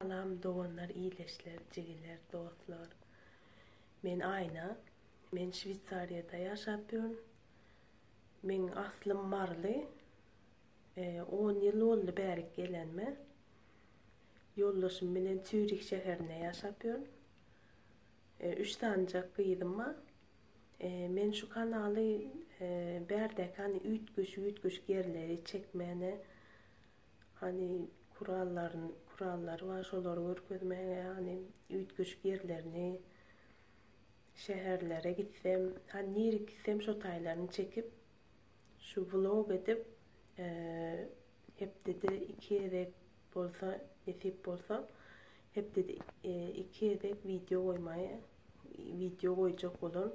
Salam doganlar ileşler jigiler dostlar men Aýna men şweýsariýada ýaşap ýörün meň aslym maryly on ýyl boldy bärik gelenime ýoldaşym bilen çýurih şäherinde ýaşap ýörün üç sanjak gyzym bar men şu kanaly bärdäki hany üýtgeşik üýtgeşik ýerleri çekmäne Hany kurallaryn kurallary bar şolary görkezmäge hany üýtgeşik ýerlerini şäherlere gitsem hany nirek gitsem şo taýlaryny çekip şu vlog edip hepdede iki gezek bolsa nesip bolsa hepdede iki gezek wideo goýmaý wideo goýjak bolaryn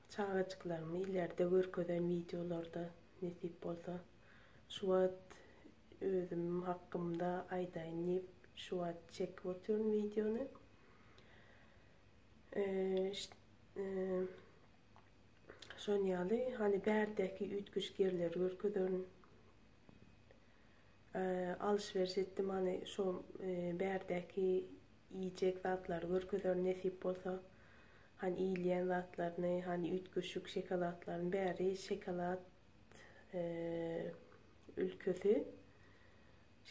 Çagajyklarymy ilerde görkezen wideolarda nesip bolsa. Şu wagt özüm hakymda aýdaýyn diýip şu wagt çekip otyryn wideony. Şony ýaly hany bärdäki üýtgeşik ýerleri görkezerin. Alyş-beriş etdim hany şo bärdäki iýjek zatlary görkezerin nesip bolsa. Hany iýilýän zatlaryny hany üýtgeşik şokoladlaryny bäri şokolad ülkesi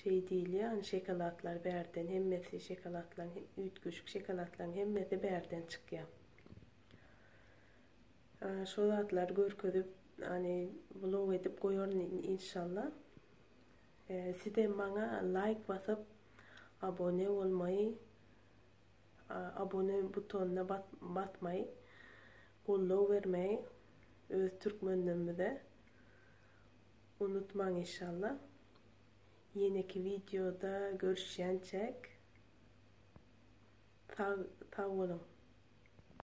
şeý diýilýär hany şokoladlar bärden hemmesi şokoladlaryň üýtgeşik şokoladlaryň hemmesi bärden çykýar. Şo zatlary görkezip ony vlog edip goýaryn inşallah. Sizem maňa laýk basyp abone bolmaý abone butonyna basmaý goldaw bermeý öz türkmenlerimize unutmaň inşallah. Ýeneki wideoda görüşýänçäk sag sag boluň.